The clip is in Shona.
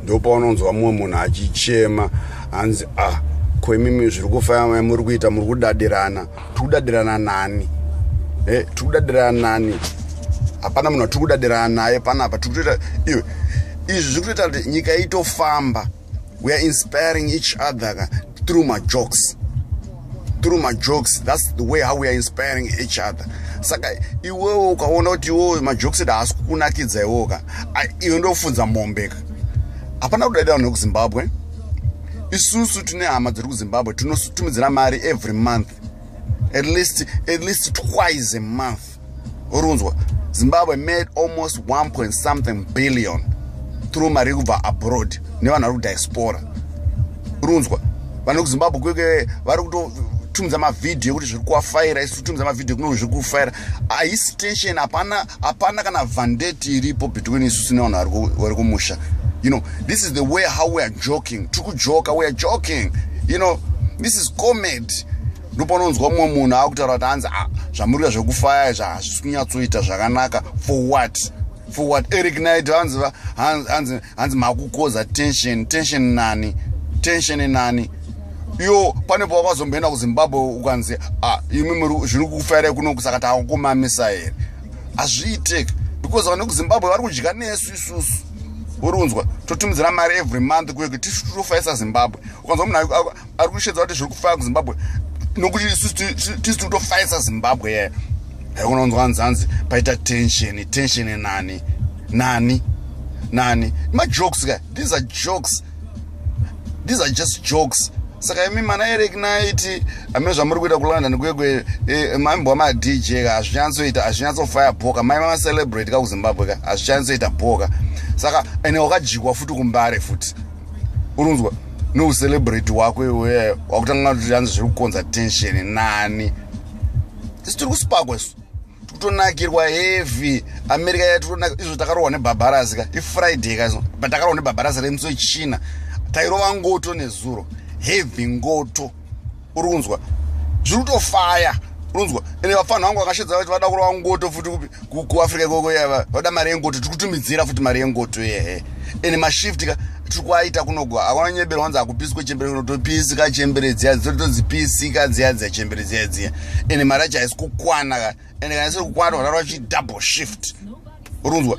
ndopaunonzwa mumwe munhu achichema hanzi a ah, ko imimi zviri kufaya muri kuita muri kudadirana tiri kudadirana nani e eh, tiri kudadirana nani hapana munhu atiri kudadirana naye panapa tiri kutoita iwe izvi zviri kutoita kuti nyika itofamba we are inspiring each other ka through majokes through majokes thats the way how we are inspiring each other saka iwewo ukaona kuti iwowo majokes eda haasi kukunakidza iwowo ka iwe ndofunza mombe ka hapana kudaidira vanhu vekuzimbabwe isusu tine hama dziri kuzimbabwe tinotumidzira mari every month at least, at least twice a month urunzwa zimbabwe made almost 1 point something billion through mari yekubva abroad nevanhu vari kudiaspora urunzwa vanhu vekuzimbabwe kweke vari kutotumidza mavhidhiyo ekuti zviri kuwafaira isu totumidza mavhidhiyo kuno zviri kufaira haisi tension hapana hapana kana vandeti iripo between isusu nevanhu vari kumusha you know this is the way how we are joking tiri kujoka we are joking you know this is comedy ndopanonzwa mumwe munhu akutaura kuti hanzi ah, zvamurira zvekufaya izvi hazvisi kunyatsoita zvakanaka for what for what eric night hanzi hanzi hanzi makukoza tension tension nani tension nani iyo pane pawakazomboenda kuzimbabwe ukanzi ah, imimi zviri kufairai kuno kusaka takukumamisa here hazviiteki because vane kuzimbabwe vari kudya nesu isusu uri unzwa totumidzira mari every month kuye kuti titofaisa zimbabwe ukanzwa munhu ari kushedza kuti zviri kufaya kuzimbabwe nokuti isu tisi tikutofaisa zimbabwe yaya haikona kunzwa nzanzi paita tensheni tensheni nani nani nani majokes ka these are jokes these are just jokes saka imi mana eric naiti amene zvamuri kuita kulondon kwekwe e, maimbo amadj ka hazvinyatsoita hazvinyatsofaya bhoka mai mamacelebrate ka kuzimbabwe ka hazvinyatsoita bhoka saka ene wakajikwa futi kumbare futi urinzwa neucelebrate wako iwe wakutanga kuti anzi zviri kukonza tension nani tisu tiri kusipakwa isu tikutonakirwa heavy america ya tikutonakirwa izvo takarohwa nebhabharasi ka ifriday ka but takarohwa nebhabharasi remusi wechina tairova ngoto nezuro heavy ngoto uri kunzwa zviri kutofaya unzwa ende vapfanha vangu vakashedza vati vada kurova ngoto futi kupi kuafrica ikoko yava vada mari yengoto tiri kutumidzira futi mari yengoto yehe ende mashift ka tiri kuaita kunogo akona nyebero wanzi akupisi kwechembere kuno topisi ka chembere dziya dzito todzipisi ka dziya dziya chembere dziya dziya ende mari yacho haisi kukwana ka ende kana isiri kukwana tokatara vachi double shift urunzwa